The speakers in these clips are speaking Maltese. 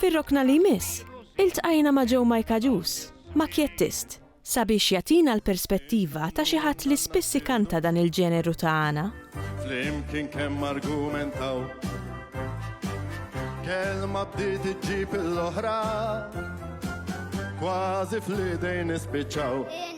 Fir-rokna li jmiss, iltqajna ma' Joe Maikagius, makjettist, sabiex jagħtina l-perspettiva ta' xi ħadd li spiss ikanta dan il-ġeneru ta' għana. Flimkien kemm argumentaw Kelma bdiet iġġib l-oħra Kważi fl-idejn nispiċċaw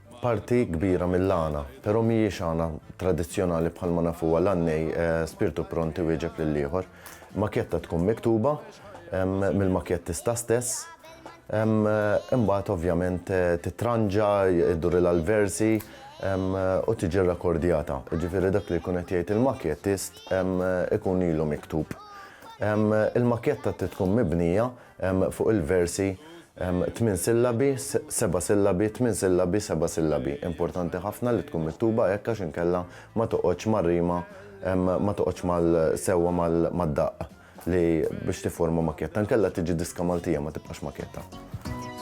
Parti kbira mill-għana, però mhijiex għana tradizzjonali bħal ma nafuha l-għannej spirtu pront iwieġeb lill-ieħor. Makjetta tkun miktuba mill-makjettista stess, imbagħad ovvjament titranġa, jdurilha l-versi u tiġi rrekordjata. Jiġifieri dak li jkun qed jgħid il-makjettist ikun ilu miktub. Il-makjetta trid tkun mibnija fuq il-versi tmien sillabi, seba' sillabi, tmien sillabi, seba' sillabi. Importanti ħafna li tkun miktuba hekk għax inkella ma toqgħodx mar-rima, ma toqgħodx mal sewwa mad-daqq li biex tifforma maketta. Inkella tiġi diska Maltija ma tibqax maketta.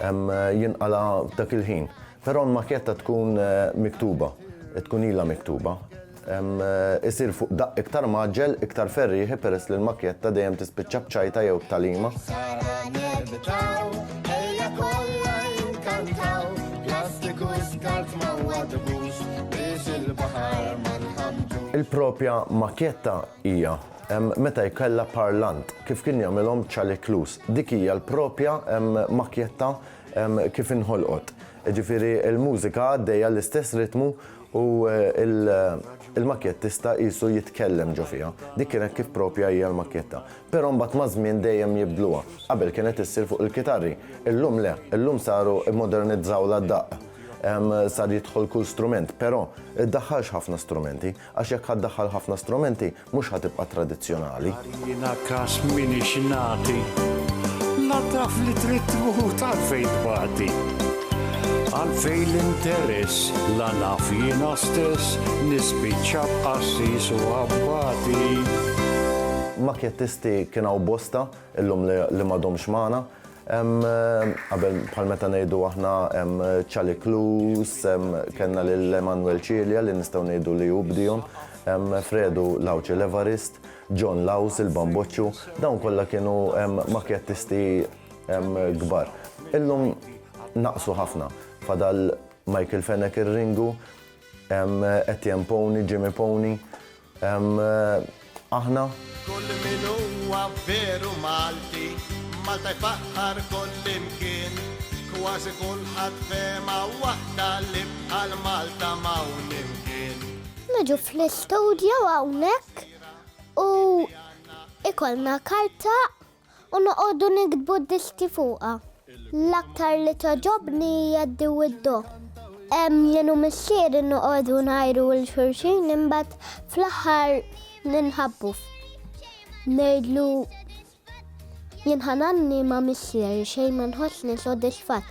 jinqala' f'dak il-ħin. Però l-maketta tkun miktuba, tkun ilha miktuba. Isir fuq daqq iktar mgħaġġel, iktar ferrieħi peress li l-makjetta dejjem tispiċċa b'ċajta jew b'talima. Il-proprja makjetta hija meta jkella parlant kif kien jagħmilhom Charlie Cluse. Dik hija l-propja makjetta kif inħolqot. Jiġifieri l-mużika għaddejja l-istess ritmu u l-makjettista qisu jitkellem ġo fiha. Dik kienet kif propja hija l-makjetta. Però mbagħad maż-żmien dejjem jibdluha. Qabel kienet issir fuq il-kitarri. Illum le. Illum saru immodernizzawlha d-daqq. Sar jidħol kull strument. Però iddaħħalx ħafna strumenti. Għax jekk ħa ddaħħal ħafna strumenti, mhux ħa tibqa' tradizzjonali. Nar jiena każ m'iniex nagħti. La taf li trid tmut għalfejn tbati. Għalfejn l-interess la naf jiena stess nispiċċa b'qassis u abbati. Makjettisti kien hawn bosta, illum li m'għadhomx magħna. Hemm qabel bħal meta ngħidu aħna hemm Charlie Clues, kellna lil Emanuel Cilia li nistgħu ngħidu li hu bdihom, hemm Fredu Lawċi Levarist, John Laws il-Bamboċċu, dawn kollha kienu makjattisti kbar. Illum naqsu ħafna, fadal Michael Fenech ir-ringu, Etienne Pony, Jimmy Pony, Hemm aħna. Kull min huwa veru Malti, Malta jfaħħar kullimkien. Kważi kulħadd fehma waħda li bħal Malta m'hawn imkien. Niġu fl-istudjo hawnhekk u jkollna karta u noqogħdu niktbu d-diski fuqha. L-aktar li togħġobni hija di Widdo. Jien u missieri noqogħdu ngħajru 'l xulxin imbagħad fl-aħħar ninħabbu. Ngħidlu jien ħananni ma' missieri xejn ma nħossni sodisfatt.